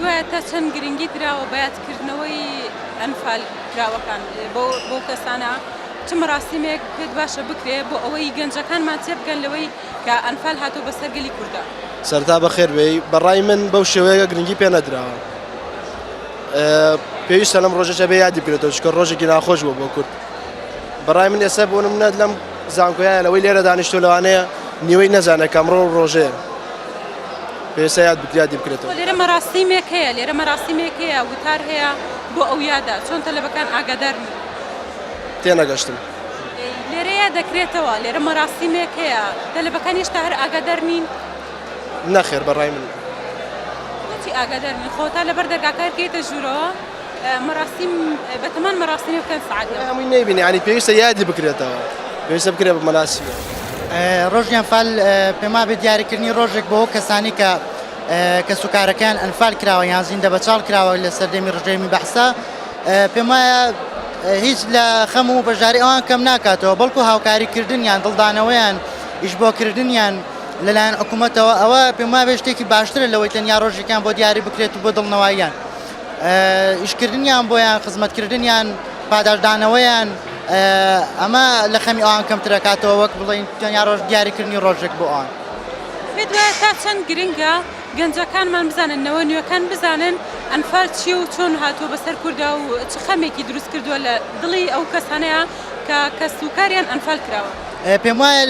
دوایە تا چەند گرنگی دراوە بە یادکردنەوەی ئەنفال کراوەکان بۆ بۆ کەسانە چ مەراسیمێک پێت باشە بکرێ بۆ ئەوەی گەنجەکانمان تێ بگەن لەوەی کە ئەنفال هاتۆ بە سەرگەلی کوردە سەرتا بەخێر بێ بەڕای من بەو شێوەیە گرنگی پێ نەدراوە پێویستە لەم ڕۆژەشە بێ یادی بێتەوە چکە ڕۆژێکی ناخۆش بوو بۆ کورد بەڕای من ئێستا بۆ منەت لەم زانکۆیایە لەوەی لێرە دانیشتووە لەوانەیە نیوەی نەزانێت کە ئەمڕۆ ڕۆژەیە پێویستە یاد بک- یادی بکرێتەوە. لێرە مەراسیمێک هەیە لێرە مەراسیمێک هەیە وتار هەیە بۆ ئەو یادە چۆن تەلەبەکان ئاگادار نین تێنەگەشتم. لێرە یاد دەکرێتەوە لێرە مەراسیمێک هەیە تەلەبەکان هێشتا هەر ئاگادار نین نەخێر بەڕای من. بۆچی ئاگادار نین خۆ تا لەبەر دەرگاکە هەر کەیتە ژوورەوە. مەراسیم بەتەمان مەراسیمە بکەن سەعات یازدە. هەمووی نەیبینی یانی پێویستە یادی بکرێتەوە پێویستە بکرێت بە مەراسیمە. ڕۆژیان فال پێموابێ دیاریکردنی ڕۆژێک بۆ ئەو کەسانەی کە کەسوکارەکەیان ئەنفال کراوە یان زیندە بەچاڵ کراوە لە سەردەمی ڕژێمی بەعسا پێم وایە هیچ لە خەم و بەشداری ئەوان کەم ناکاتەوە بەڵکو هاوکاریکردنیان دڵدانەوەیان ئیشبۆکردنیان لەلایەن حکوومەتەوە ئەوە پێم وابێ شتێکی باشترە لەوەی تەنیا ڕۆژێکیان بۆ دیاری بکرێت و بۆ دڵنەواییان ئیشکردنیان بۆیان، خزمەتکردنیان، پاداشتدانەوەیان، ئەمە لە خەمی ئەوان کەمتر ئەکاتەوە وەک بڵێین تەنیا ڕۆژ دیاریکردنی ڕۆژێک بۆ ئەوان. پێت وایە تا چەند گرنگە گەنجەکانمان بزانن، نەوە نوێکان بزانن ئەنفال چییە و چۆن هاتووە بەسەر کوردا و چ خەمێکی دروستکردووە لە دڵی ئەو کەسانەیا کە کەس و کاریان ئەنفال کراوە. پێم وایە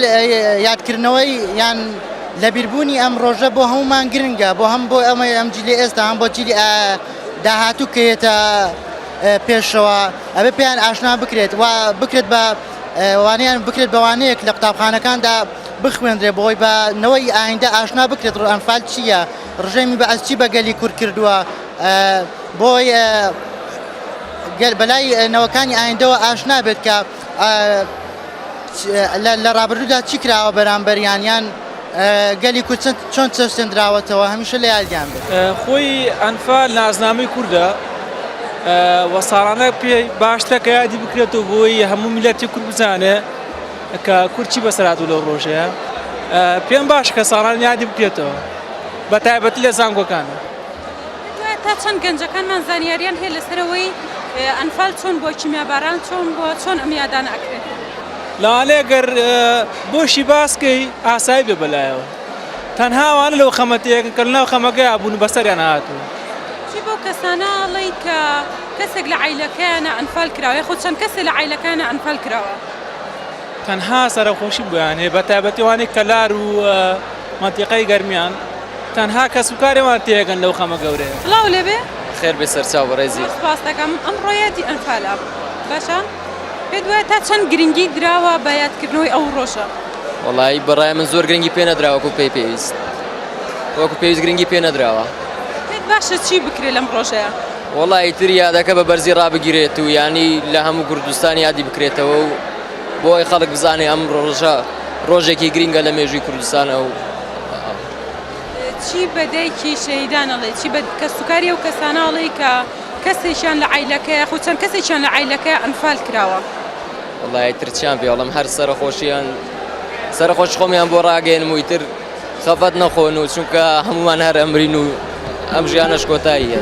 یادکردنەوەی یان لەبیربوونی ئەم ڕۆژە بۆ هەموومان گرنگە، بۆ هەم بۆ ئەمەی ئەم جیلی ئێستا هەم بۆ جیلی داهاتوو کە یێتە پێشەوە ئەبێ پێیان ئاشنا بکرێت و بکرێت بە وانیان بکرێت بەوانەیەک لە قوتابخانەکاندا بخوێنرێ بۆی بە نەوەی ئایندە ئاشنا بکرێت ڕ ئەنفال چییە ڕژێمی بە ئەسچی بەگەلی کورد کردووە بۆی گەر بەلای نەوەکانی ئایندەوە ئاشنا بێت کە لە ڕابردوودا چی کراوە بەرامبەریان یان گەلی کورد چۆن چەسێنراوەتەوە هەمیشە لە یادیان بێت خۆی ئەنفا نازنامەی کووردە وە ساڵانە پێ باشتە کە یادی بکرێتەوە بۆی هەموو میلەتی کورد بزانێ کە کورچی بەسەرات و لەو ڕۆژەیە پێم باش کە ساڵان یادی بکرێتەوە بە تایبەتی لە زانگۆکان. تا چەند گەنجەکانمان زانیاریان هەیە لەسەر ئەوەی ئەنفال چۆن بووە، کیمیاباران چۆن بووە، چۆن ئەم یادانە ئەکرێت؟ لەوانەیە گەر بۆشی باس کەی ئاسایی بێ بەلایەوە تەنها ئەوانە لەو خەمە تێکن کە لەناو خەمەکەیا بوون و بەسەریان هاتوون. چی بەو کەسانە ئەڵێی کە کەسێک لە عایلەکەیانە ئەنفال کراوە یاخود چەند کەسێک لە عایلەکەیانە ئەنفال کراوە؟ تەنها سەرەخۆشی بۆیان هەیە بە تایبەتی ئەوانەی کەلار و مەنتیقەی گەرمیان تەنها کەسوکاری وان تێگەن لەو خەمە گەورەیە. سڵاو لێبێ. خێر بێ سەرچاو بەڕێزی. سپاست دەکەم. ئەمڕۆ یادی ئەنفال ە. باشە پێت وایە تا چەند گرنگی دراوە بە یادکردنەوەی ئەو ڕۆژە؟ وەڵایی بەڕای من زۆر گرنگی پێ نەدرا وەکو پێی پێویست. وەکو پێویست گرنگی پێ نەدراوە. پێت باشە چی بکرێ لەم ڕۆژەیە؟ وەڵا ئیتر یادەکە بە بەرزی ڕابگیرێت و یانی لە هەموو کوردستان یادی بکرێتەوە و بۆ ئەوەی خەڵک بزانێ ئەم ڕۆژە ڕۆژێکی گرینگە لە مێژووی کوردستانە و چی بە دایکی شەهیدان ئەڵێ چی بە کەسوکاری ئەو کەسانە ئەڵێی کە کەسێکیان لە عیلەکەیە خو چەند کەسێکیان لە عیلەکە ئەنفال کراوە وڵی ترچیان پێڵم هەر سەرخۆشیان سەرخۆش خۆمیان بۆ ڕاگەێنم و تر خەفەت نەخۆن و چونکە هەمومان هەر ئەمرین و ئەم ژیانەش کۆتاییە.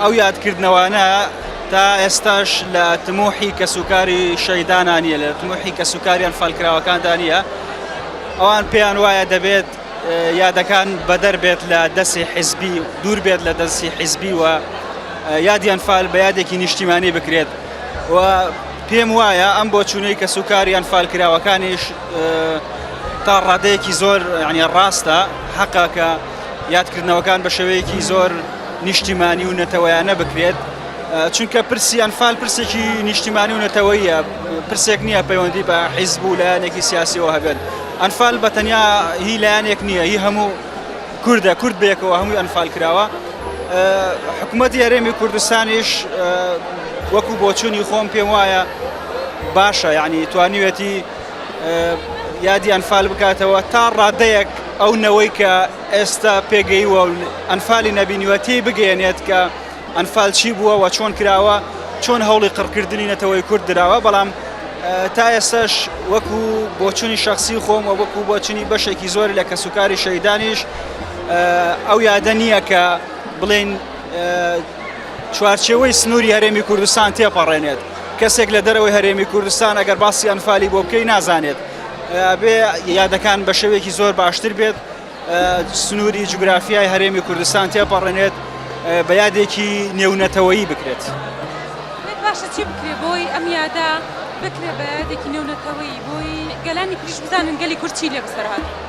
ئەو یادکردنەوانە تا ئێستاش لە تموحی کەسوکاری شەیدانا نیە لە تموحی کەسوکاریان فالکراوەکاندا نیە ئەوان پێیان وایە دەبێت یادەکان بەدەر بێت لە دەستی حیزبی دوور بێت لە دەستی حیزبی و یادیان فال بە یادێکی نیشتیمانی بکرێت و پێم وایە ئەم بۆ چوونەی کە سوکاریان فالکراوەکانیش تا ڕادەیەکی زۆر ینی ڕاستە حەقەکە یادکردنەوەکان بە شێوەیەکی زۆر نیشتیمانی و نەتەوەیانە بکرێت چونکە پرسی ئەنفال پرسێکی نیشتیمانی و نەتەوەیە پرسێک نییە پەیوەندی بە حیزب و لایەنێکی سیاسیەوە هەبێت ئەنفال بە تەنیا هی لایەنێک نییە هی هەموو کوردە کورد بێکەوە هەمووی ئەنفال کراوە حکوومەت یارێمی کوردستانیش وەکو بۆچوونی خۆم پێم وایە باشە یعنی توانیوێتی یادی ئەنفال بکاتەوە تا ڕادەیەک ئەو نەوەی کە ئێستا پێگەیوە و ئەنفالی نەبینیوە تێی بگەێنێت کە ئەنفال چی بووە و چۆن کراوە چۆن هەوڵی قڕکردنی نەتەوەی کورد دراوە بەڵام تا ئێستاش وەکو بۆچوونی شخصی خۆم و وەکو بۆچنی بەشێکی زۆر لە کەسوکاری شەیدانیش ئەو یادە نییە کە بڵێن چوارچێوەی سنووری هەرێمی کوردستان تێپەڕێنێت، کەسێک لە دەرەوەی هەرێمی کوردستان ئەگەر باسی ئەنفالی بۆ بکەی نازانێت، ئەبێ یادەکان بە شێوەیەکی زۆر باشتر بێت، سنووری جوگرافیای هەرێمی کوردستان تێپەڕێنێت، بە یادێکی نێونەتەوەیی بکرێت. باشە چی بکرێ بۆی ئەم یادە بکرێ بە یادێکی نێونەتەوەیی بۆی گەلانی تریش بزانن گەلی کورد چی لێ بەسەر هاتووە؟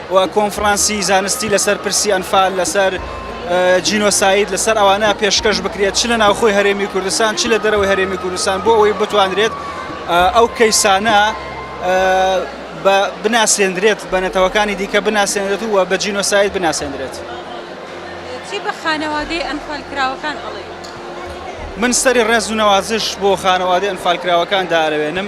و کۆنفرانسی زانستی لەسەر پرسی ئەنفال لەسەر جینۆساید لەسەر ئەوانە پێشکەش بکرێت چ لە ناوخۆی هەرێمی کوردستان چ لە دەرەوەی هەرێمی کوردستان بۆ ئەوەی بتوانرێت ئەو کەیسانە بناسێندرێت بە نەتەوەکانی دیکە بناسێنرێت و بە جینۆساید بناسێندرێت چی بە خانەوادەی ئەنفالکراوەکان ئەڵێ من سەری ڕێز و نەوازش بۆ خانەوادەی ئەنفالکراوەکان دارەوێنم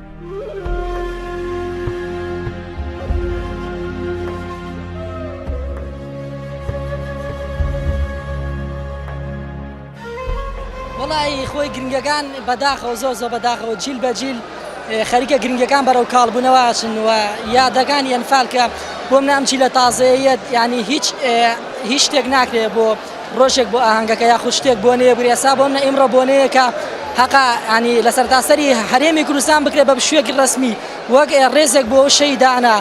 وەڵایی خۆی گرنگەکان بەداخەوە زۆر زۆر بەداخەوە جیل بە جیل خەریکە گرنگەکان بەرەو کاڵبوونەوە ئاچنەوە یادەکان یەنفالکە بۆم نامچی لە تازەیەت ینی هیچ هیچ شتێک ناکرێت بۆ ڕۆژێک بۆ ئاهەنگەکە یاخود شتێک بۆنەیە بگرێ ئێستا بۆ منە ئیمڕۆ بۆنەیەکە هەقە ینی لە سەرتاسەری هەرێمی کوردستان بکرێت بە شوێکی ڕسمی وەک ڕێزێک بۆ شەیدانە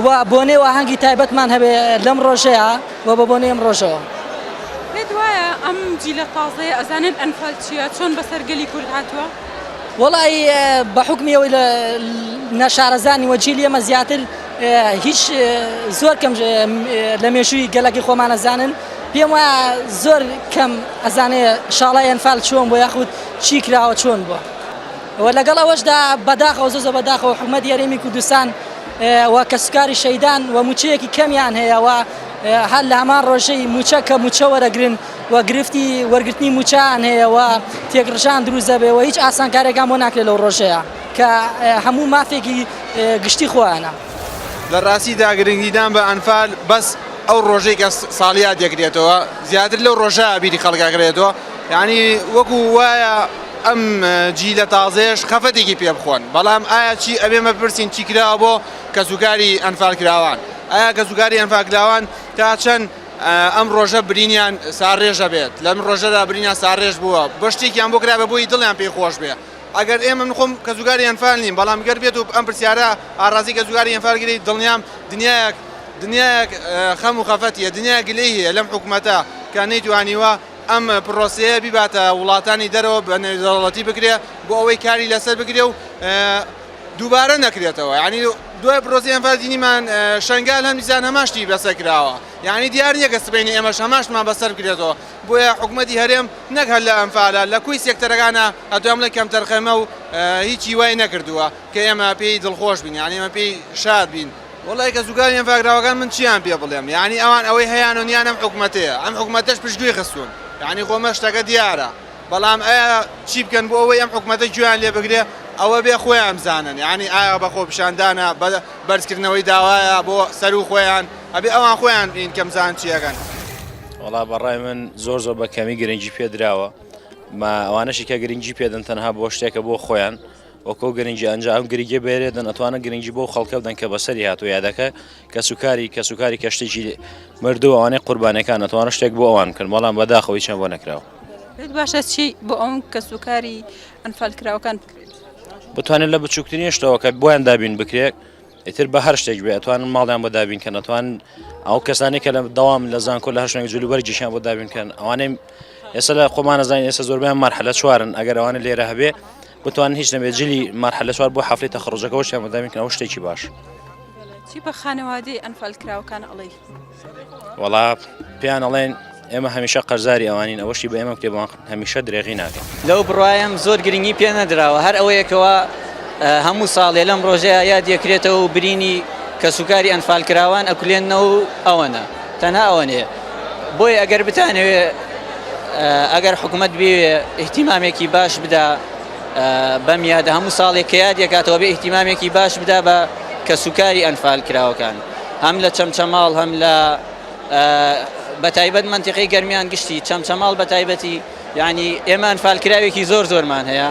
و بۆنێ و ئاهەنگی تایبەتمان هەبێ لەم ڕۆژەیە و بە بۆنێ ئەم ڕۆژەوە پێت وایە ئەم جیلە تازەیە ئەزانن ئەنفال چییە چۆن بەسەر گەلی کورد هاتووە؟ وەڵی بە حکمیەوەی لە نەشارەزانی وەجیلی ئەمە زیاتر هیچ زۆر کەم لە مێژووی گەلەکەی خۆمان ئەزانن پێم وایە زۆر کەم ئەزانێ شاڵای ئەنفال چۆن بۆ یاخود چی کراوە چۆن بووە و لەگەڵ ئەوەشدا بەداخەوە زۆ زۆ بەداخەوە حکومەت یاریمی کوردستان و کەسکاری شەیدان و موچەیەکی کەمیان هەیەەوە هەر لە هەمان ڕۆژەی موچە کە موچە وەرەگرن و گرفتی وەرگرتنی موچان هەیەەوە تێکڕژان دروزەبێەوە هیچ ئاسانکارێکان بۆ ناکرێت لەو ڕۆژەیە. کە هەموو مافێکی گشتی خۆیانە. لە ڕاستیدا گرنگیدان بە ئەنفال بەس ئەو ڕۆژەی کە ساڵیاد دەکرێتەوە زیاتر لەو ڕۆژە بیری خەڵک ئەکرێتەوە یانی وەکو وایە ئەم جیلە تازەیەش خەفەتێکی پێ بخۆن بەڵام ئایا چی ئەبێ مەپرسین چی کراوە بۆ کەسوکاری ئەنفال کراوان ئایا کەسوکاری ئەنفال کراوان تا چەند ئەم ڕۆژە برینیان ساڕێژە بێت لەم ڕۆژەدا برینیان ساڕێژ بووە بەشتێکیان بۆ کرا بە بۆی دڵیان پێی خۆش بێ ئەگەر ئێمە من خۆم کەسوکاری ئەنفال نیم بەڵام گەر بێت و ئەم پرسیارە ئاڕازی کەسوکاری ئەنفال گرێی دڵنیام دنیایەک دنیایەک خەم و خەفەتیە دنیای گلەی هەیە لەم حکومەتە کە نەیتوانیوە ئەم پرۆسەیە بیباتە وڵاتانی دەرەوە بە نێودەوڵەتی بکرێ بۆ ئەوەی کاری لەسەر بکرێ و دووبارە نەکرێتەوە یعنی دوای پرۆسی ئەنفال دینیمان شنگال هەم دیسان هەمان شتی بەسەر کراوە یعنی دیار نییە کە سبەینێ ئێمەش هەماشمان بەسەر بکرێتەوە بۆیە حکومەتی هەرێم نەک هەر لە ئەنفالە لە کوی سێکتەرەکانە ئەتوام بڵێ کەمتەرخەمە و هیچی وای نەکردووە کە ئێمە پێی دڵخۆش بین یانی ئێمە پێی شاد بین. وەڵای کە زوکانی ئەنفاکراوەکان من چیان پێ بڵێم یانی ئەوان ئەوەی هەیان و نیان ئەم حکومەتەیە ئەم حکومەتەش پشتگوێی خستوون یانی خۆ مە شتەکە دیارە بەڵام ئەیا چی بکەن بۆ ئەوەی ئەم حکومەتە گوێیان لێ بگرێ ئەوە بێ خۆیان بزانن یانی ئایا بە خۆپیشاندانە بە بەرزکردنەوەی داوایە بۆ سەروو خۆیان ئەبێ ئەوان خۆیان بین کە بزان چیەکەن. وەڵا بەڕای من زۆر زۆر بە کەمی گرنگی پێدراوە. ئەوانەشی کە گرنگی پێدەن تەنها بۆ شتێکە بۆ خۆیان وەکۆ گرنگی ئەنج ئەم گرنگی بێرێدەن ئەتوانە گرنگی بۆ خەڵکە بدەن کە بەسەری هاتو یادەکە کە سوکاری کە سوکاری کەشتێکی مردووانەی قوربانەکان ئەتوانە شتێک بۆ ئەوان کرد بەڵام بەداخەوەی چەند بۆ نەکراوە باشە چی بۆ ئەوم کە سوکاری ئەنفالکراوەکان بکرێت بتوانێت لە بچووکترین شتەوە کە بۆیان دابین بکرێت ئیتر بە هەر شتێک بێ ئەتوانن ماڵیان بۆ دابین کەن ئەتوان ئەو کەسانی کە لە دەوام لە زانکۆ لە هەشنگ جلو بەرگیشیان بۆ دابین کەن ئەوانەی ئێستا لە خۆمانە زانین ئێستا زۆربیان مەرحلە چوارن ئەگەر ئەوانە لێرە هەبێ بتوان هیچ نەبێت جلی مەرحلە چوار بۆ هەفلەی تەخڕۆجەکەەوەشیان بەدامین کە ئەو شتێکی باش چی بە خانەوادەی ئەنفال کراوەکان ئەڵی وەڵا پێیان ئەڵێن ئێمە هەمیشە قەرزاری ئەوانین ئەوەشی بە ئێمە کتێبوان هەمیشە درێغی ناکەن لەو بڕوایم زۆر گرنگی پێ نەدراوە هەر ئەوەیەکەوە هەموو ساڵێ لەم ڕۆژەیە یاد یەکرێتەوە و برینی کەسوکاری ئەنفال کراوان ئەکولێنەوە و ئەوەنە تەنها ئەوەنێ بۆیە ئەگەر بتانەوێ ئەگەر حکوومەت بێ احتیمامێکی باش بدا بەم یادە هەموو ساڵێک کە یاد یەکاتەوە بێ احتیمامێکی باش بدا بە کەسوکاری ئەنفال کراوەکان. هەم لە چەمچەماڵ هەم لە بەتایبەت منتیقی گەرمیان گشتی چەمچەماڵ بەتایبەتی یعنی ئێمە ئەنفالکراوێکی زۆر زۆرمان هەیە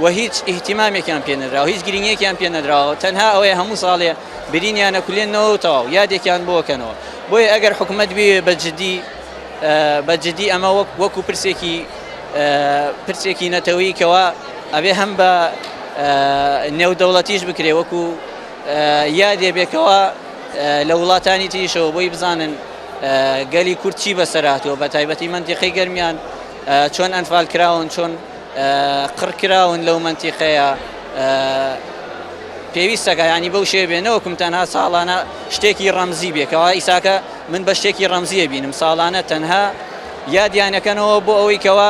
و هیچ ئیهتیمامێکیان پێ نراوە هیچ گرنگێکیان پێ نەدراوە تەنها ئەوەیە هەموو ساڵێ برینیانە کولێنەوە تەواو یادێکیان بۆکەنەوە بۆیە ئەگەر حکوومەت بێ بە جددی بە جددی ئەمە وەک وەکو پرسێکی پرسێکی نەتەوەی کەەوە ئەبێ هەم بە نێودەوڵەتیش بکرێ وەکو یادێ بێ کەوا لە وڵاتانی تریشەوە بۆی بزانن گەلی کورد چی بەسەراتوە بە تایبەتی منتیقی گەرمیان چۆن ئەنفال کراون چۆن قڕکراون لەو منتیقەیە پێویستەکە ینی بەو شێ بێ نەوەکم تەنها ساڵانە شتێکی ڕەمزی بێکەوە ئیساکە من بە شتێکی ڕەمزیە بینم ساڵانە تەنها یادیانەکەنەوە بۆ ئەوەی کەەوە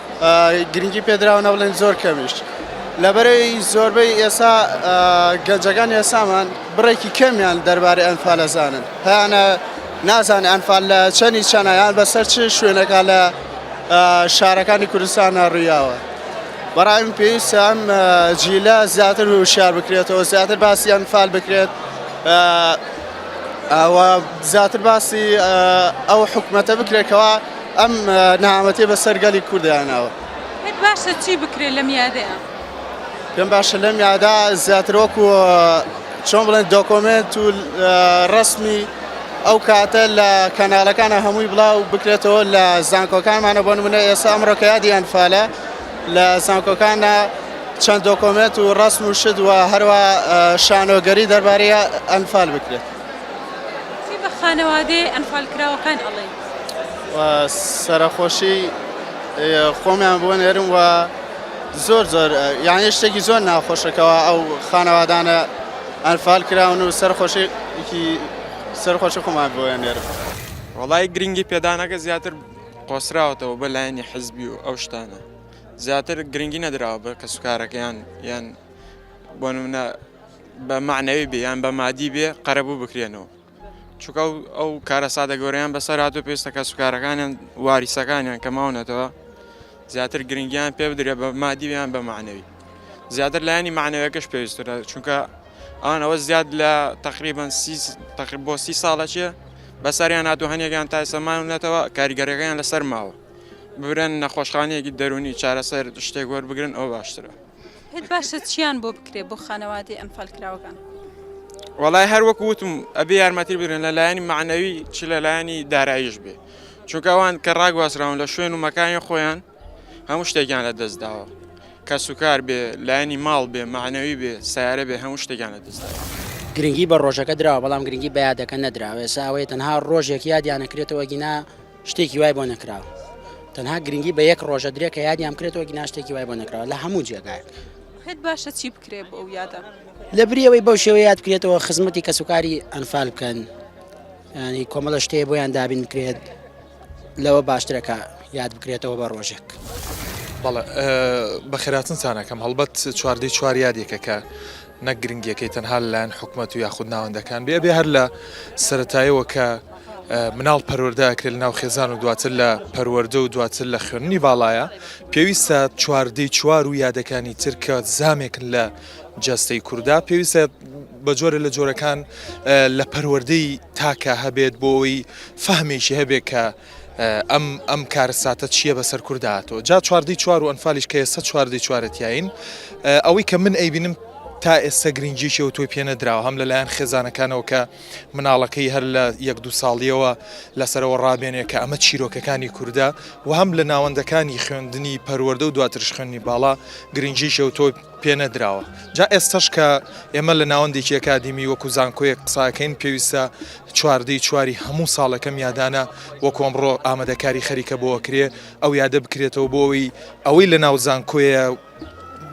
گرنگی پێدراوە نە بڵێن زۆر کەمیش لەبەرەی زۆربەی ئێسا گەنجەکان ئێسامان بڕێکی کەمیان دەربارەی ئەنفالە زانن هەیانە نازانێ ئەنفال لە چەنی چەنایان بەسەر چ شوێنەکە لە شارەکانی کوردستان ناڕویاوە بەڕای من پێویستە ئەم جیلە زیاتر وشار بکرێتەوە زیاتر باسی ئەنفال بکرێت زیاتر باسی ئەو حکوومەتە بکرێتەوە ئەم نەهامەتیە بەسەر گەلی کورددا ناوە. پێت باشە چی بکرێت لەم یادەیە؟ پێم باشە لەم یادا زیاتر وەکو چۆن بڵێن دۆکۆمنت و ڕسمی ئەو کاتە لە کەناڵەکانە هەمووی بڵاو بکرێتەوە لە زانکۆکانمانە بۆن منە ئێستا ئەمڕۆکە یادی ئەنفالە لە زانکۆکانە چەند دۆکۆمنت و ڕسم و شت و هەروە شانۆگەری دەربارەیە ئەنفال بکرێت خانەوادەی ئەنفالکراوەکان ئەڵێن و سەرەخۆشی خۆمیان بۆ نێرم و زۆر زۆر یعنی شتێکی زۆر ناخۆشەکەەوە ئەو خانەوادانە ئەنفال کراون و سەرخۆشێکی سەرخۆشی خۆمان بۆ نێرم وڵی گرنگی پێدانەکە زیاتر قۆسراوەتەوە بە لایەنی حزبی و ئەو شتانە زیاتر گرنگی نەدراوە بە کەسوکارەکەیان یان بۆ منە بە معنەوی بیان بە مادی بێ قەرەبوو بکرێنەوە چونکە ئەو کارەساتە گەورەیان بەسەر هاتووە پێویستە کەسوکارەکانیان واریسەکانیان کە ماونەتەوە زیاتر گرنگیان پێ بدرێت بە مادیویان بە معنەوی زیاتر لایانی معنەوەکەش پێویسترە چونکە ئەوان ئەوە زیاد لە تقریبان تقریب بۆ سی ساڵە چێ بەسەریان هاتو هەنێکیان تا سەمانونەتەوە کاریگەرەکەیان لەسەر ماوە ببرن نەخۆشخانەیەکی دەرونی چارەسەر شتێک وەربگرن ئەو باشترە پێت باشە چیان بۆ بکرێت بۆ خانەوادەی ئەنفال کراوەکان؟ وەڵای هەر وەکو وتم ئەبێ یارمەتی بگرن لە لایەنی معنەوی چ لە لایەنی داراییش بێ چونکە ئەوان کە ڕاگوازراون لە شوێن و مەکانی خۆیان هەموو شتێکیان لە دەست داوە کەس و کار بێ لایەنی ماڵ بێ معنەوی بێ سیارە بێ هەموو شتێکیان لە دەست داوە. گرنگی بە ڕۆژەکە دراوە بەڵام گرنگی بە یادەکە نەدراوە ئێستا ئەوەیە تەنها ڕۆژێک یادیان ئەکرێتەوە ئەگینا شتێکی وای بۆ نەکراوە تەنها گرنگی بە یەک ڕۆژە درێ کە یادیان بکرێتەوە گیناشتێکی وای بۆ نەکراوە لە هەموو جێگایەک خێت باشە چی بکرێ بۆ ئەو یادە لە بریەوەی بەو شێوە یاد بکرێتەوە خزمەتی کەسوکاری ئەنفال بکەن ینی کۆمەڵە شتەیە بۆیان دابین بکرێت لەوە باشترەکە یاد بکرێتەوە بە ڕۆژێک. بەڵێ بەخێراتنتانەکەم هەڵبەت چواردەی چوار یادێکەکە نەک گرنگیەکەی تەنها لەلایەن حکومەت و یاخود ناوەندەکان بێ ئەبێ هەر لە سەرەتایەوە کە مناڵ پەروەەردە ئەکرێت ناو خێزان و دواتر لە پەروەەردە و دواتر لە خوێننی باڵایە پێویستە چواردەی چوار و یادەکانی ترکە زامێکن لە جەستەی کووردا پێویستە بە جۆرە لە جۆرەکان لە پەروەەردەی تاکە هەبێت بۆ ئەوی فەهمێکی هەبێت کە ئەم ئەم کارەساتە چییە بەسەر کوردا هاتووە جا چواردەی چوار و ئەنفالیش کە ئێستا چواردەی چوارە تیایین ئەوەی کە من ئەیبینم تا ئێستا گرنگجیشەوە تۆی پێنەدراوە هەم لەلایەن خێزانەکانەوە کە مناڵەکەی هەر لە یەک دو ساڵیەوە لەسەرەوە ڕابێنێ کە ئەمە چیرۆکەکانی کووردە و هەم لە ناوەندەکانی خوێندنی پەروەەردە و دواترش خوێنی باڵا گرنگجیشەوە تۆی پێنەدراوە جا ئێستەش کە ئێمە لە ناوەندێکی ئەکادیمی وەکو زانکۆیەک قساکەین پێویستە چواردەی چواری هەموو ساڵەکەم یادانە وەکو ئەمڕۆ ئامادەکاری خەریکە بۆ ئەکرێ ئەو یادە بکرێتەوە بۆ ئەوی ئەوەی لە ناو زانکۆیە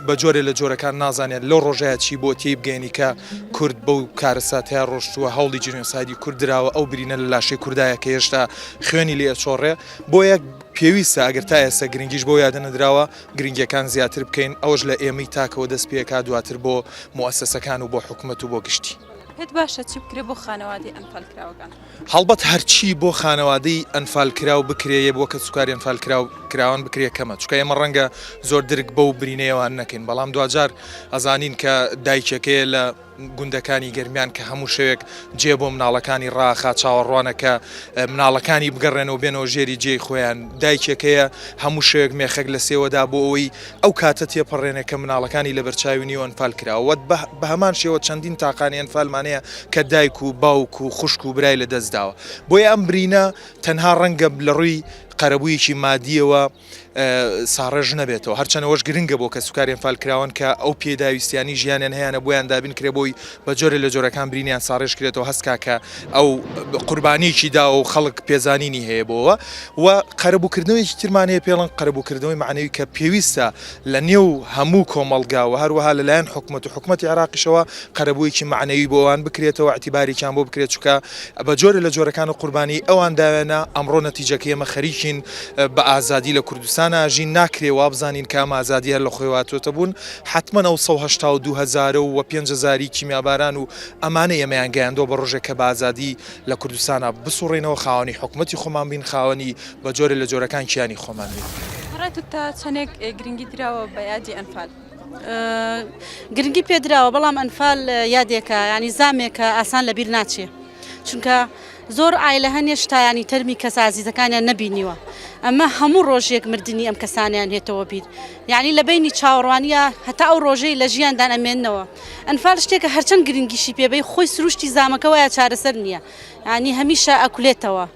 بە جۆرێ لە جۆرەکان نازانێت لەو ڕۆژەیە چی بۆ تێی بگەێنی کە کورد بەو کارەساتەیە ڕۆشتووە هەوڵی جینۆسایدی کورد دراوە ئەو برینە لە لاشەی کوردایە کە هێشتا خوێنی لێ ئەچۆڕێ بۆ یەک پێویستە ئەگەر تا ئێستا گرنگیش بۆ یادە نەدراوە گرنگیەکان زیاتر بکەین ئەوەش لە ئێمەی تاکەوە دەست پێکا دواتر بۆ موئەسەسەکان و بۆ حکومەت و بۆ گشتی. پێت باشە چی بکرێ بۆ خانەوادەی ئەنفالکراوەکان؟ هەڵبەت هەرچی بۆ خانەوادەی ئەنفالکراو بکرێ یە بۆ کەس وکاری ئەنفالکراو کراوان بکرێ کەمە چونکە ئێمە ڕەنگە زۆر درک بەو برینەیەوە نەکەین بەڵام دواجار ئەزانین کە دایکەکەیە لە گوندەکانی گەرمیان کە هەموو شەوێک جێ بۆ مناڵەکانی ڕاخا چاوەڕوانە کە مناڵەکانی بگەڕێنەوە بێنەوە ژێری جێی خۆیان دایکێکەیە هەموو شەوێک مێخەک لە سێوەدا بۆ ئەوەی ئەو کاتە تێپەڕێنێ کە مناڵەکانی لە بەرچاوی نیو ئەنفال کراوە بە هەمان شێوە چەندین تاقانی ئەنفالمانەیە کە دایک و باوک و خوشک و برای لە دەستداوە بۆیە ئەم برینە تەنها ڕەنگە لە ڕووی قەرەبوویەکی مادیەوە ساڕێژ نەبێتەوە، هەرچەند ئەوەش گرنگە بۆ کەسوکاری ئەنفالکراوان کە ئەو پێداویستییانەی ژیانیان هەیانە بۆیان دابین کرێ بۆی بە جۆرێ لە جۆرەکان برینیان ساڕێژ کرێتەوە هەستکا کە ئەو قوربانیەکی داوە و خەڵک پێزانینی هەیە بۆوە و قەرەبووکردنەوەیەکی ترمان هەیە پێڵن قەرەبووکردنەوەی معنەوی کە پێویستە لە نێو هەموو کۆمەڵگا و هەروەها لە لایەن حکومەت و حکومەتی عێراقیشەوە قەرەبوویەکی مەعنەوی بۆ ئەوان بکرێتەوە، ئیعتیبارێکیان بۆ بکرێت، چونکە بە جۆرێ لە جۆرەکان و قوربانیی ئەوان داوێنە، ئەمڕۆ نەتیجەکەی ئێمە خەریکین بە ئازادی لە کوردستان ئاژین، ناکرێ وا بزانین کە ئەم ئازادییە هەر لە خۆیەوە هاتووەتە بوون، حەتمەن ئەو سەد و هەشتا و دوو هەزارە و پێنج هەزاری کیمیاباران و ئەمانەی ئێمەیان گەیاندووە بە ڕۆژێک کە بە ئازادی لە کوردستانا بسووڕێینەوە، خاوەنی حکومەتی خۆمان بین، خاوەنی. بە جۆرێ لە جۆرەکان کیانی خۆمان بین. بە ڕای تۆ تا چەندێک گرنگی دراوە بە یادی ئەنفال؟ گرنگی پێدراوە بەڵام ئەنفال یادێکە ینی زامێکە ئاسان لە بیر ناچێ چونکە زۆر ئایلە هەنێ شتایانی تەرمی کەس ئازیزەکانیان نەبینیوە ئەمە هەموو ڕۆژێک مردنی ئەم کەسانیان هێتەوە بیر یعنی لە بینی چاوەڕوانیە هەتا ئەو ڕۆژەی لە ژیاندان ئەمێنەوە ئەنفال شتێکە هەرچەند گرنگیشی پێبەی خۆی سروشتی زامەکە وایە چارەسەر نییە ینی هەمیشە ئەکولێتەوە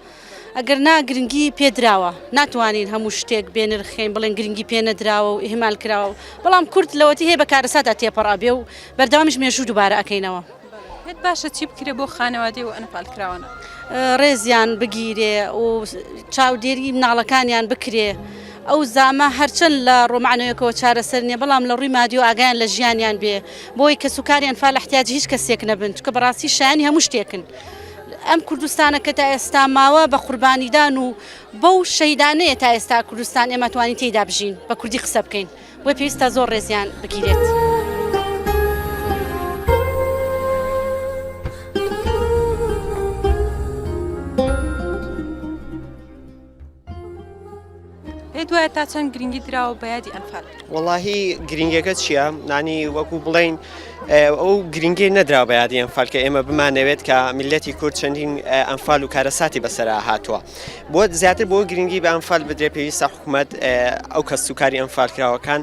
ئەگەر نا گرنگی پێ دراوە. ناتوانین هەموو شتێک بێ نرخکەین بڵێن گرنگی پێ نەدراوە و ئیهمال کراوە بەڵام کورد لەوەتی هەیە بە کارەساتدا تێپەڕ ئەبێ و بەردەوامیش مێژوو دووبارە ئەکەینەوە. پێت باشە چی بکرێ بۆ خانەوادەی و ئەنفال کراوانە؟ ڕێزیان بگیرێ و چاودێری مناڵەکانیان بکرێ. ئەو زامە هەرچەند لە ڕووە مەعنەویەکەوە چارەسەر نیە بەڵام لە ڕووی مادی و ئاگایان لە ژیانیان بێ بۆی کەس و کاری ئەنفال احتیاجی هیچ کەسێک نەبن چونکە بەڕاستی شایەنی هەموو شتێکن. ئەم کوردستانە کە تا ئێستا ماوە بە قوربانیدان و بەو شەیدانەیە تا ئێستا کوردستان ئێمە توانی تێیدا بژین بە کوردی قسە بکەین بۆ پێویستە زۆر ڕێزیان بگیرێت. پێت وایە تا چەند گرنگی دراوە بە یادی ئەنفال وەڵاهی گرنگەکە چییە نانی وەکو بڵین ئەو گرنگی نەدرا بە یادی ئەنفال کە ئێمە بمانەوێت کە میلەتی کورد چەندین ئەنفال و کارەساتی بەسرا هاتووە بۆ زیاتر بۆ گرنگی بە ئەنفال بدرێ پێویستە حکوومەت ئەو کەس و کاری ئەنفالکراوەکان.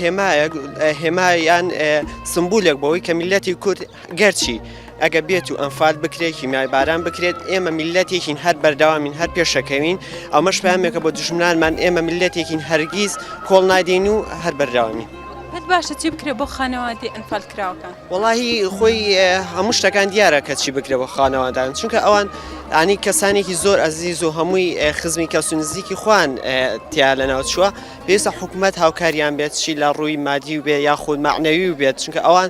هێمایەک هێما یان سمبولێک بەوەی کە میلەتی کورد گەرچی ئەگە بێت و ئەمفال بکرێت هیمای باران بکرێت ئێمە میلەتێکین هەر بەردەوامین هەر پێشەکەوین ئەمەش پامێکە بۆ دژمنانمان ئێمە میلەتێکین هەرگیز کۆڵ نادەین و هەر بەردەوامی. پێت باشە چی بکرێ بۆ خانەوادی ئەنفال کراوەکان وڵی خۆی هەموو شتەکان دیارە کە چی بکرێ بۆ خانەوادان چونکە ئەوان ئانی کەسانێکی زۆر ئەزیز و هەمووی خزمی کەس و نزیکی خوان تیا لە ناوچووە پێویستە حکومەت هاوکاریان بێت چی لە ڕووی مادی و بێ یاخود معنەوی و بێت چونکە ئەوان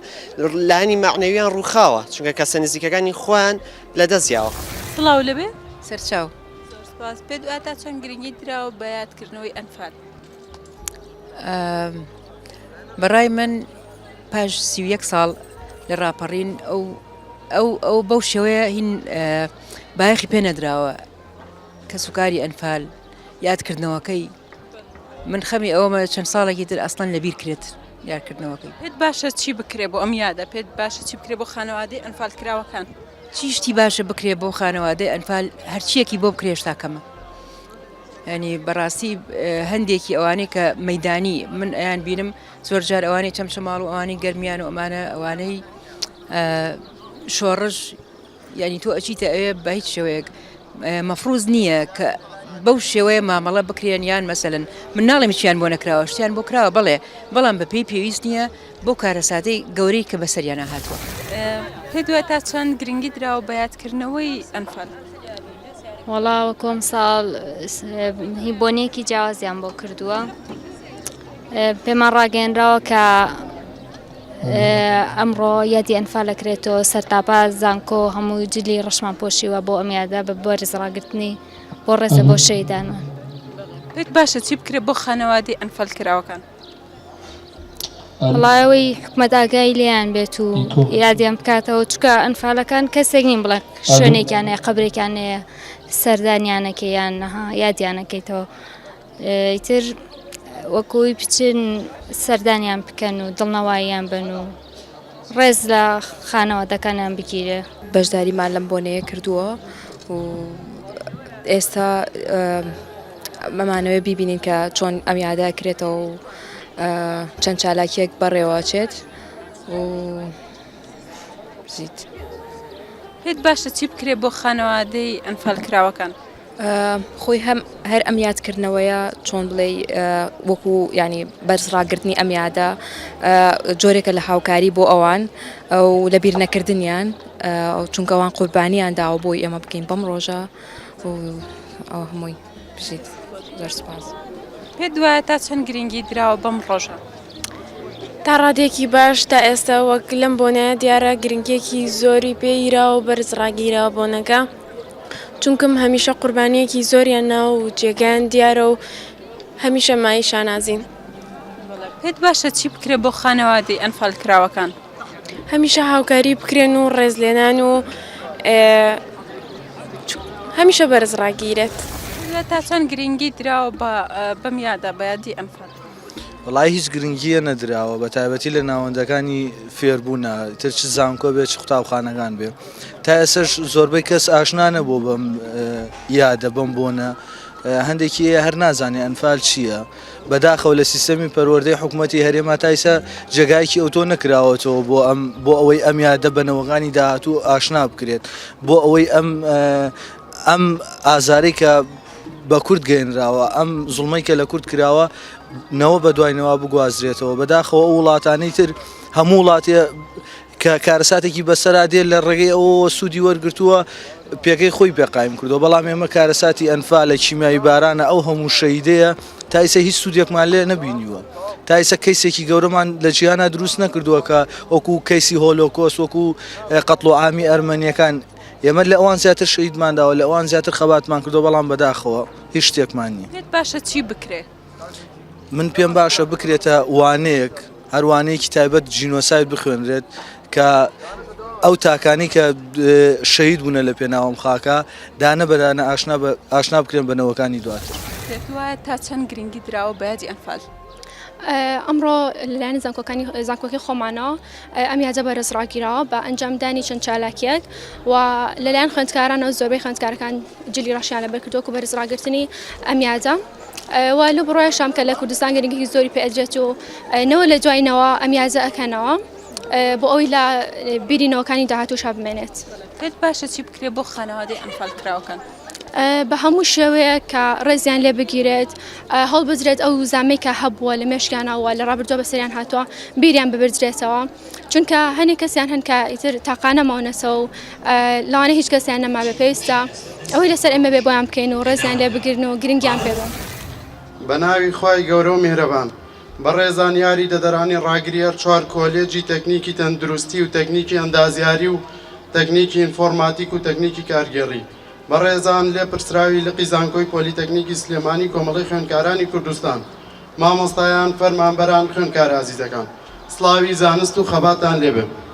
لانی معنەویان ڕووخاوە چونکە کەسە نزیکەکانی خۆیان لە دەست یاوە سڵاو لەبێ سەرچاو سپاس پێ دواتا چەند گرنگی دراوە بە یادکردنەوەی ئەنفال بەڕای من پاش سی یەک ساڵ لە ڕاپەڕین ئەو ئەو ئەو بەو شێوەیە هین بایەخی پێ نەدراوە کەسوکاری ئەنفال یادکردنەوەکەی من خەمی ئەوەمە چەند ساڵێکی تر ئەستان لەبیر کرێت یارکردنەوەکەی پێت باشە چی بکرێ بۆ ئەم یادە پێت باشە چی بکرێ بۆ خانەوادەی ئەنفال کراوەکان چیشتی باشە بکرێ بۆ خانەوادەی ئەنفال هەرچیەکی بۆ بکرێش تاکەمە ینی بەڕاستی هەندێکی ئەوانەی کە مەدانی من ئەیان بینم زۆر جار ئەوانەی چەمچەماڵ و ئەوانی گەرمیان و ئەمانە ئەوانەی شۆڕش یانی تۆ ئەچیتە ئەوێ بە هیچ شێوەیەک مەفروز نییە کە بەو شێوەیە مامەڵە بکرێن یان مەسەن من ناڵێم چیان بۆ نەکراوە شتیان بۆ کراوە بڵێ بەڵام بە پێی پێویست نییە بۆ کارەساتەی گەورەی کە بەسەریانە هاتووە پێ دوای تا چەند گرنگی دراوە بە یادکردنەوەی ئەنفال. وەڵاوە کۆم ساڵ هی بۆنێکی جیاوازیان بۆ کردووە پێمان ڕاگەێنراوە کە ئەمڕۆ یادی ئەنفال ئەکرێتەوە سەرتاپا زانکۆ هەموو جلی ڕەشمان پۆشیوە بۆ ئەم یادە بە بەرز ڕاگرتنی بۆ ڕێزە بۆ شەیدانە پێت باشە چی بکرێت بۆ خانەوادی ئەنفال کراوەکان وڵایەوەی حکومەت ئاگای لێیان بێت و یادیان بکاتەوە چکە ئەنفالەکان کەسێک نیم بڵێ شوێنێکیانەیە قبرێکیانەیە سەردانیانەکەیان نەها یادیانەکەیتەوە ئیتر وەکوی بچن سەردانیان بکەن و دڵنەواییان بن و ڕێز لە خانەوادەکانیان بگیرێ بەشداریمان لەم بۆنەیە کردووە و ئێستا مەمانەوە بیبینین کە چۆن ئەم یادا کرێتەوە و چەند چالاکیەک بەڕێوەچێت و زیت. پێت باشە چی بکرێت بۆ خانەوادەی ئەنفال کراوەکان؟ خۆی هەم هەر ئەم یادکردنەوەیە چۆن بڵێی وەکو ینی بەرزڕاگررتنی ئەم یادە جۆرێکە لە هاوکاری بۆ ئەوان و لە بیر نەکردنیان چونکەوان قوربانیان داوە بۆی ئێمە بکەین بەم ڕۆژە ئەو هەمووی بژیت زۆرسپاس پێ دوایە تا چەند گرنگی دراوە بەم ڕۆژە تا ڕادێکی باش تا ئێستا وەک لەم بۆنەیە دیارە گرنگێکی زۆری پێیرا و بەرز ڕاگیرا بۆنەکە. چونکم هەمیشە قوربانیەکی زۆریان ناوە و جێگایان دیارە و هەمیشە مایەی شانازین. پێت باشە چی بکرێ بۆ خانەوادەی ئەنفال کراوەکان؟ هەمیشە هاوکاری بکرێن و ڕێزلێنان و هەمیشە بەرز ڕاگیرێت. تا چەند گرنگی دراوە بە بەم یادە بە یادی ئەنفال؟ وەڵایی هیچ گرنگیە نەدراوە بەتایبەتی لە ناوەندەکانی فێربوونا تر چ زانکۆ بێ چ قوتابخانەکان بێ تا ئێسش زۆربەی کەس ئاشنا نەبوو بەم یادە بم بۆنە هەندێکی هەر نازانێ ئەنفال چییە بەداخەوە لە سیستەمی پەروەردەی حکوومەتتی هەرێما تایسە جێگایکی ئەوتۆ نەکراوەتەوە بۆ ئەم بۆ ئەوەی ئەم یادە بەنەوەگانی داهاتوو ئاشنا بکرێت بۆ ئەوەی ئەم ئەم ئازارێکە بە کورد گەێنراوە ئەم زڵمەی کە لە کورد کراوە نەوە بە دوای نەوە بگوازرێتەوە بەداخەوە ئەو وڵاتانی تر هەموو وڵاتی کە کارەساتێکی بەسەرا دێ لە ڕێگەی ئەوەوە سوودی وەرگتووە پێگەی خۆی پێقایم کردو بەڵام ئێمە کارەساتی ئەنفا لە چیمایی بارانە ئەو هەموو شەیدەیە تایسە هیچ سوودێکمان لێ نەبینیوە تایسە کەیسێکی گەورەمان لە جیانە دروست نەکردووە کە وەکو کەیسی هۆلۆکۆس وەکو قەتڵ و ئامی ئەرمەنیەکان ئێمە لە ئەوان زیاتر شەهیدمان داوە، لە ئەوان زیاتر خەباتمان کردووە، بەڵام بەداخەوە هیچ شتێکمان نییە. پێت باشە چی بکرێ؟ من پێم باشە بکرێتە وانەیەک، هەر وانەیەکی تایبەت جینۆساید بخوێنرێت کە ئەو تاکانی کە شەهید بوونە لە پێناوەم خاکە دانە بەدانە ئاشنا بە ئاشنا بکرێن بە نەوەکانی دواتر. پێت وایە تا چەند گرنگی دراوە بە یادی ئەنفال؟ ئەمڕۆ لەلایەن زانکۆکانی زانکۆکی خۆمانەوە ئەم یادە بەرز ڕاگیراوە بە ئەنجام دانی چەند چالاکیەک و لەلایەن خوێندکارانەوە زۆربەی خوێندکارەکان جلی ڕەشیان لە بەرکردۆک و بەرز ڕاگررتنی ئەم یادە. و لە بڕای شام کە لە کوردستان گەرنگی زۆری پێدرێت و نەوە لە دوایینەوە ئەم یازە ئەکەنەوە بۆ ئەوی لە بیرینەوەکانی داهاتوو شا بمێنێت. پێت باشە چی بکرێت بۆ خانەوادەی ئەنفال کراوەکان؟ بە هەموو شێوەیە کە ڕێزیان لێ بگیرێت هەڵبدرێت ئەو زامەی کە هەبووە لە مێشکیانەوە لە ڕابردووە بەسەریان هاتووە بیریان ببدرێتەوە چونکە هەنێ کەسیان هەن کە ئیتر تاقانە ماونەتەوە و لاانە هیچ کەسیان نەما بە پێویستە ئەوەی لەسەر ئێمە بێ بۆیان بکەین و ڕێزیان لێ بگرن و گرنگیان پێ بن بە ناوی خوای گەورە و میهرەبان. بەڕێزان یاری دەدەرانی ڕاگریەر چوار کۆلێجی تەکنیکی تەندروستی و تەکنیکی ئەندازیاری و تەکنیکی ئینفۆرماتیک و تەکنیکی کارگێڕی بەڕێزان لێپرسراوی لقی زانکۆی پۆلیتەکنیکی سلێمانی کۆمەڵەی خوێندکارانی کوردستان مامۆستایان فەرمانبەران خوێندکارە ئازیزەکان سڵاوی زانست و خەباتان لێبێ.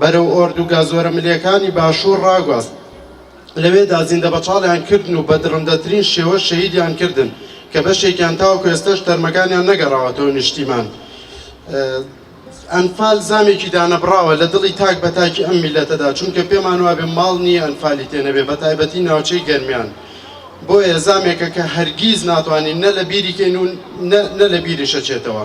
بەرەو ئۆردوگا زۆرەملێکانی باشوور ڕاگواست، لەوێدا زیندەبەچاڵیان کردن و بە دڕندەترین شێوە شەهیدیان کردن، کە بەشێکیان تاوەکو ئێستەش تەرمەکانیان نەگەڕاوەتەوە نیشتیمان. ئەنفال زامێکی دانەبڕاوە لە دڵی تاک بە تاکی ئەم میللەتەدا، چونکە پێمان وابێ ماڵ نییە ئەنفالی تێ نەبێ، بە تایبەتی ناوچەی گەرمیان. بۆیە زامێکە کە هەرگیز ناتوانین نە لە بیری کەین و نە لە بیریش ئەچێتەوە.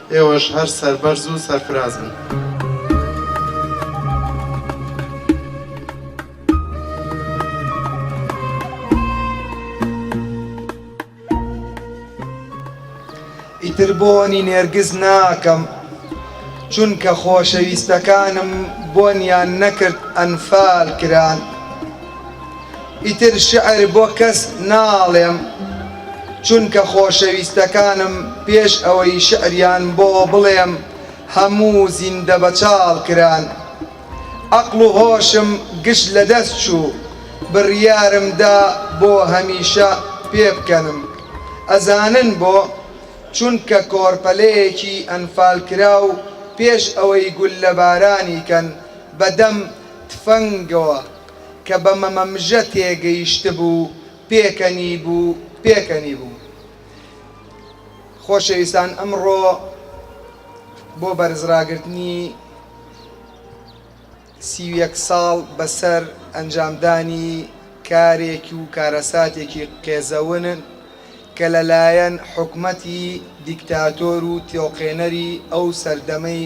ئێوەش هەر سەربەرز و سەرفراز بن. ئیتر بۆنی نێرگز ناکەم چونکە خۆشەویستەکانم بۆنیان نەکرد ئەنفال کران. ئیتر شیعر بۆ کەس ناڵێم، چونکە خۆشەویستەکانم پێش ئەوەی شیعریان بۆ بڵێم هەموو زیندە بەچاڵ کران. عەقڵ و هۆشم گشت لە دەست چوو، بڕیارم دا بۆ هەمیشە پێبکەنم. ئەزانن بۆ؟ چونکە کۆرپەلەیەکی ئەنفالکراو پێش ئەوەی گوللەبارانی کەن بە دەم تفەنگەوە، کە بە مەمەمژە تێگەیشتبوو پێکەنیبوو پێکەنیبوو خۆشەویستان ئەمڕۆ بۆ بەرزڕاگرتنی سی و یەک ساڵ بەسەر ئەنجامدانی کارێک و کارەساتێکی قێزەون کە لەلایەن حکومەتی دیکتاتۆر و تۆقێنەری ئەو سەردەمەی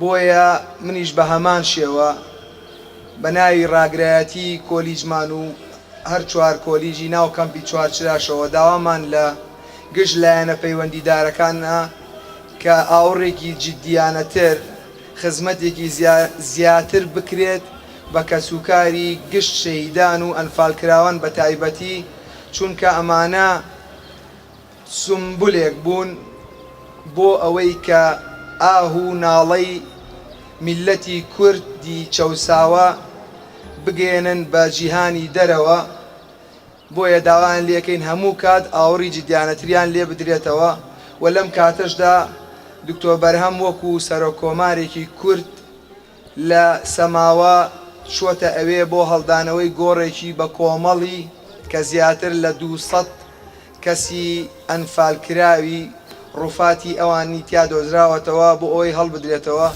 بۆیە منیش بە هەمان شێوە بە ناوی ڕاگرایەتی کۆلیجمان و هەر چوار کۆلیجی ناو کەمپی چوارچراشەوە داوامان لە گشت لایەنە پەیوەندیدارەکان نا کە ئاوڕێکی جدیانەتر خزمەتێکی زیاتر بکرێت بە کەسوکاری گشت شەهیدان و ئەنفالکراوان بە تایبەتی چونکە ئەمانە سومبولێک بوون بۆ ئەوەی کە ئاه و ناڵەی میللەتی کوردی چەوساوە بگەیەنن بە جیهانی دەرەوە، بۆیە داوایان لێکەین هەموو کات ئاوڕی جدیانەتریان لێ بدرێتەوە و لەم کاتەشدا دکتۆر بەرهەم وەکو سەرۆک کۆمارێکی کورد لە سەماوە چووەتە ئەوێ بۆ هەڵدانەوەی گۆڕێکی بە کۆمەڵی کە زیاتر لە دوو سەد کەسی ئەنفالکراوی ڕووفاتی ئەوانی تیا دۆزراوەتەوە بۆ ئەوەی هەڵبدرێتەوە.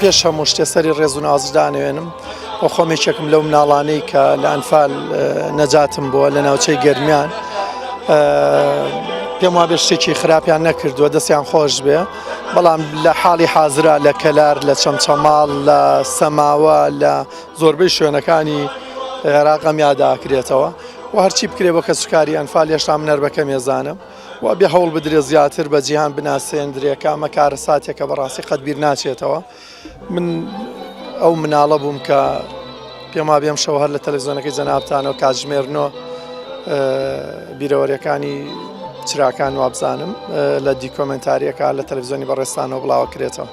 پێش هەموو شتێ سەری ڕێز و نازت دانەوێنم و خۆم یەکێکم لەو مناڵانەی کە لە ئەنفال نەجاتم بووە لە ناوچەی گەرمیان پێم وابێ شتێکی خراپیان نەکردووە دەستیان خۆش بێ بەڵام لە حاڵی حازرا لە کەلار لە چەمچەماڵ لە سەماوە لە زۆربەی شوێنەکانی عێراق ئەم یادە ئاکرێتەوە و هەرچی بکرێ بۆ کەسوکاری ئەنفال هێشتا منەر بە کەمێزانم و بێ هەوڵ بدرێت زیاتر بە جیهان بناسێندرێ کامە کارە ساتێکە بەڕاستی قەت بیر ناچێتەوە من ئەو مناڵە بووم کە پێما بێم شەوە هەر لە تەلەزیۆنەکەی جەنابتانەوە کاتژمێرنۆ بیرەوەریەکانی چراکان وابزانم لە دیکۆمنتاریەکە لە تەلەزیۆنی بەڕێستانەوە بڵاوە کرێتەوە.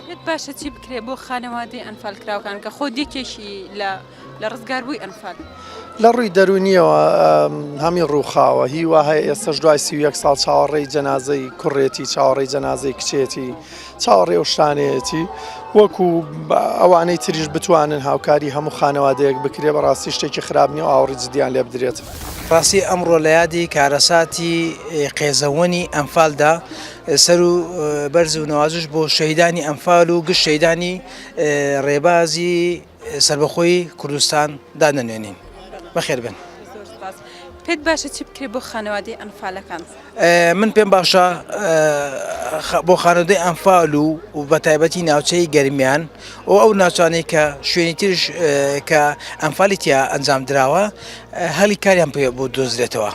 پێت باشە چی بکرێت بۆ خانەوادەی ئەنفالکراوکان کە خۆ دیکێکی لە لە ڕزگاربووی ئەنفال لە ڕووی دەرونیەوە هەمی ڕووخاوە هی وهەیە ئێستش دوای سی یەک ساڵ چاوەڕێی جەنازەی کوڕێتی چاوەڕێی جەنازەی کچێتی چاوەڕێ و شتانەیەتی وەکو ئەوانەی تریش بتوانن هاوکاری هەموو خانەوادەیەک بکرێ بەڕاستی شتێکی خراپ نیە و ئاوڕی جدیان لێ بدرێت ڕاستی ئەمڕۆ لە یادی کارەساتی قێزەوەنی ئەمفالدا سەرو بەرز و نەوازش بۆ شەهیدانی ئەنفال و گشت شەهیدانی ڕێبازی سەربەخۆی کوردستان دادەنوێنین بەخێربن. پێت باشە چی بکرێت بۆ خانەوادەی ئەنفالەکان من پێم باشە بۆ خانەدەی ئەنفال و و بە تایبەتی ناوچەی گەرمیان و ئەو ناچانەی کە شوێنی ترش کە ئەنفالیتیا ئەنجام دراوە هەلی کاریان پێ بۆ دۆزرێتەوە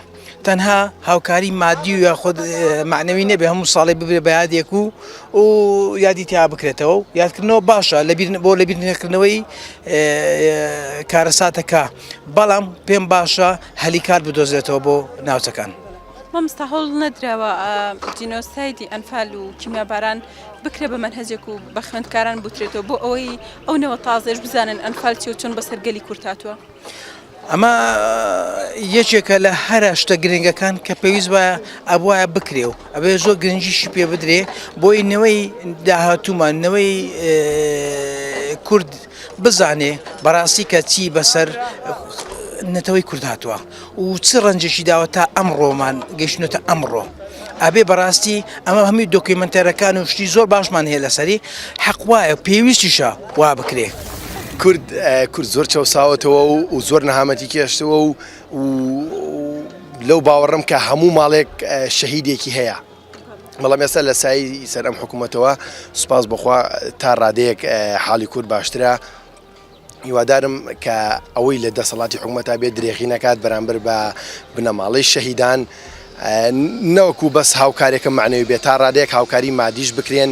تەنها هاوکاری مادی و یاخود معنەوی نەبێ هەموو ساڵی ببێ بە یادێک و و یادی تیا بکرێتەوە و یادکردنەوە باشە لە بۆ لە بیرنەکردنەوەی کارەساتەکە بەڵام پێم باشە هەلی کار بدۆزێتەوە بۆ ناوچەکان. مامستا هەوڵ نەدراوە جینۆسایدی ئەنفال و کیمیاباران بکرێ بە منهجێک و بە خوێندکاران بوترێتەوە بۆ ئەوەی ئەو نەوە تازێش بزانن ئەنفال چێ و چۆن بەسەر گەلی کورتاتوە. ئەمە یەکێکە لە هەرە شتە گرنگەکان کە پێویست وایە ئەبواە بکرێ و ئەبێ زۆ گرنجیشی پێ بدرێ بۆی نەوەی داهاتومان نەوەی کورد بزانێ بەڕاستی کە چی بەسەر نەتەوەی کورد هاتووە. و چ ڕەنجێکی داوە تا ئەمڕۆمان گەیشتونەتە ئەمڕۆ ئەبێ بەڕاستی ئەمە هەمووی دۆکیومنتەرەکان و شتی زۆر باشمان هەیە لەسەری حەق وایە پێویستیشە وا بکرێ. کورد کورد زۆر چەوساوەتەوە و و زۆر نەهامەتی کێشتەوە و و لەو باوەڕم کە هەموو ماڵێک شەهیدێکی هەیە بەڵام ئێستا لە سای سەر ئەم حکوومەتەوە سوپاس بخوا تا ڕادەیەک حاڵی کورد باشترە هیوادارم کە ئەوەی لە دەسەڵاتی حکومەتا بێت درێغی نەکات بەرامبەر بە بنەماڵەی شەهیدان نەوەکو بەس هاوکارێکە معنەوی بێت تا ڕادێک هاوکاری مادیش بکرێن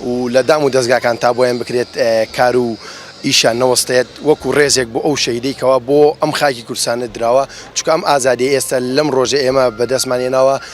و لە دام و دەستگاکان تا بۆیان بکرێت کار و ئیشان نەوەستێت وەکو ڕێزێک بۆ ئەو شەهیدەی کەوا بۆ ئەم خاکی کوردستانە دراوە چکە ئەم ئازادی ئێستا لەم ڕۆژە ئێمە بەدەستمان هێناوە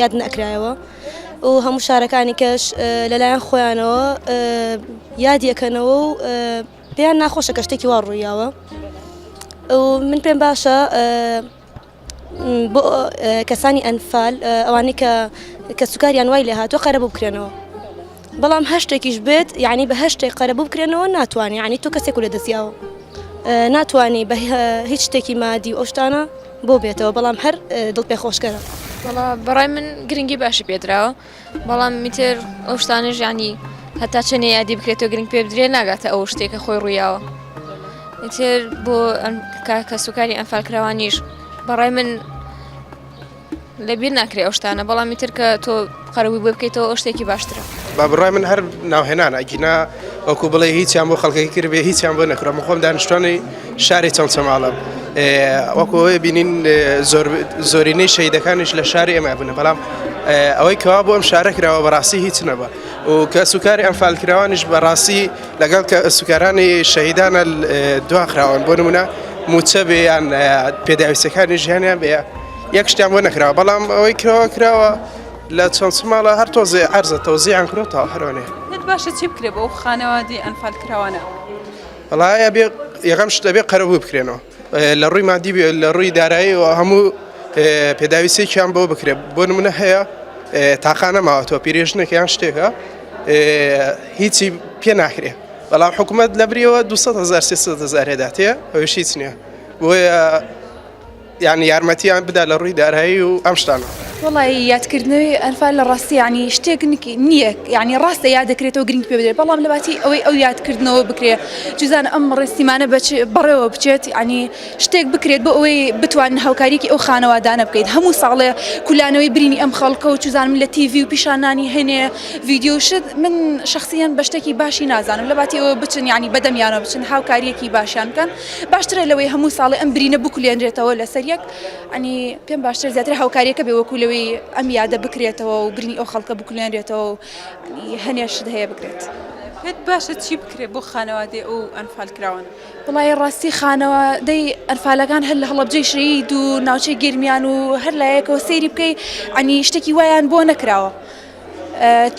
یاد نەکرایەوە و هەموو شارەکانی کەش لەلایەن خۆیانەوە یادیەکەنەوە و پێیان ناخۆشە کە شتێکی وا ڕوویاوە من پێم باشە بۆ کەسانی ئەنفال ئەوانەی کە کە سوکاریان وای لێ هاتوە قەرە بکرێنەوە بەڵام هەشتێکیش بێت یعنی بە هەشتێک قەرەبوو بکرێنەوە ناتوانانی یعنی تۆ کەسێک و لە دەستیاوە ناتوانانی بە هیچ شتێکی مادی و ئەوشتانە بۆ بێتەوە بەڵام هەر دڵ پێ خۆشکەرە بەڕای من گرنگی باشی پێدراوە بەڵام میتر ئەو شتانە ژانی هەتا چەنێ یادی بکرێتەوە گرنگ پێ بدرێ ناگاتە ئەو شتێکە خۆی ڕویاوە میتر بۆ کاکە سوکاری ئەمفالکراوانیش بەڕای من لە بیر ناکرێ ئەو شتانە بەڵامی تر کە تۆ قەرەووی بۆ بکەیتەوە ئەو شتێکی باشترە با بڕای من هەر ناوهێنان ئەگینا وەکو بڵێ هیچیان بۆ خەڵکی کرد بێ هیچیان بۆ نەکرم خۆم دانیشتوانی شاری چەند چەماڵم وەکوۆی بینین زۆرینەی شەیدەکانیش لە شاری ئێمە بوون بەڵام ئەوەی کەوا بۆ ئەم شارە کراوە بەڕاستی هیچ نەبە و کە سوکاری ئەم فالکراوانیش بەڕاستی لەگەڵ کە سوکارانی شەهیدانە دواخراون بۆ نمونە موچە بێیان پێداویستەکانی ژیانیان بێ یەک شتیان بۆ نەکراوە بەڵام ئەوەی کراوە کراوە لە چەند سماڵە هەر تۆزێ ئەرزە تۆزییان کرۆتەوە هەرۆنێ باشە چی بکرێ بۆ خانەوادی ئەنفال کراوانە بەڵایە بێ یەکەم شتە بێ قەرەبوو بکرێنەوە لە ڕووی مادی بێ لە ڕووی دارایی و هەموو پێداویستێکیان بۆ بکرێت بۆ نمونە هەیە تاقانە ماوەتەوە پیرێژنێکیان شتێکە هیچی پێ ناکرێ بەڵام حکوومەت لە بریەوە 200 هزار 300 هزارێداتێ ئەوش هیچ نییە بۆیە یانی یارمەتیان بدا لە ڕووی دارایی و ئەم شتانە. وەڵایی یادکردنەوەی ئەنفال لە ڕاستی یانی شتێک نییە یانی ڕاستە یاد دەکرێتەوە گرنگ پێ بدرێت بەڵام لەباتی ئەوەی ئەو یادکردنەوە بکرێ جزان ئەم ڕێسیمانە بەڕێوە بچێت ینی شتێک بکرێت بۆ ئەوەی بتوان هاوکاریکی ئەو خانەوادانە بکەیت هەموو ساڵێ کولانەوەی برینی ئەم خەڵکە و چزانم لە تیڤی و پیشانانی هەنێ ڤیددیوشت من شخصیان بە شتێکی باشی نازانم لەباتی ئەوە بچن ینی بەدەمیانە بچن هاوکاریەکی باشیان بکەن باشترە لەوەی هەموو ساڵێ ئەم برینە بکولێنرێتەوە لەسەر یەک ئەنی پێم باشتر زیاتر هاوکاریەکە بێ وەکو لەوەی ئەم یادە بکرێتەوە و برینی ئەو خەڵکە بکولێنرێتەوە و هەنێشت هەیە بکرێت. پێت باشە چی بکرێ بۆ خانەوادەی ئەو ئەنفال کراوان؟ بڵای ڕاستی خانەوە دەی ئەنفالەکان هەر لە هەڵەبجەی شەید و ناوچەی گەرمیان و هەر لایەکەوە سەیری بکەی ئەنی شتێکی وایان بۆ نەکراوە.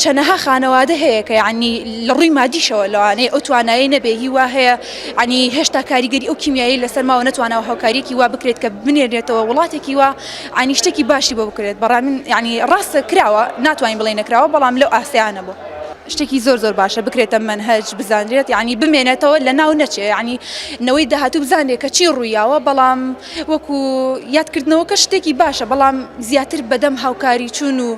چەنەها خانەوادە هەیە کە یعنی لە ڕووی مادیشەوە لەوانەیە ئەو توانایی نەبێ هی وا هەیە عنی هێشتا کاریگەری ئەو کیمیایی لەسەر ماوە نەتوانەوە هاوکاریەکی وا بکرێت کە بنێرێتەوە وڵاتێکی وا عنی شتێکی باشی بۆ بکرێت بەڕام ینی ڕاستە کراوە ناتوانین بڵێ نەکراوە بەڵام لەو ئاسیانە بوو. شتێکی زۆر زۆر باشە بکرێتە منهج بزانرێت یعنی بمێنێتەوە لە ناو نەچێ یعنی نەوەی داهاتوو بزانێت کە چی ڕوویاوە بەڵام وەکو یادکردنەوەکە شتێکی باشە بەڵام زیاتر بەدەم هاوکاری چوون و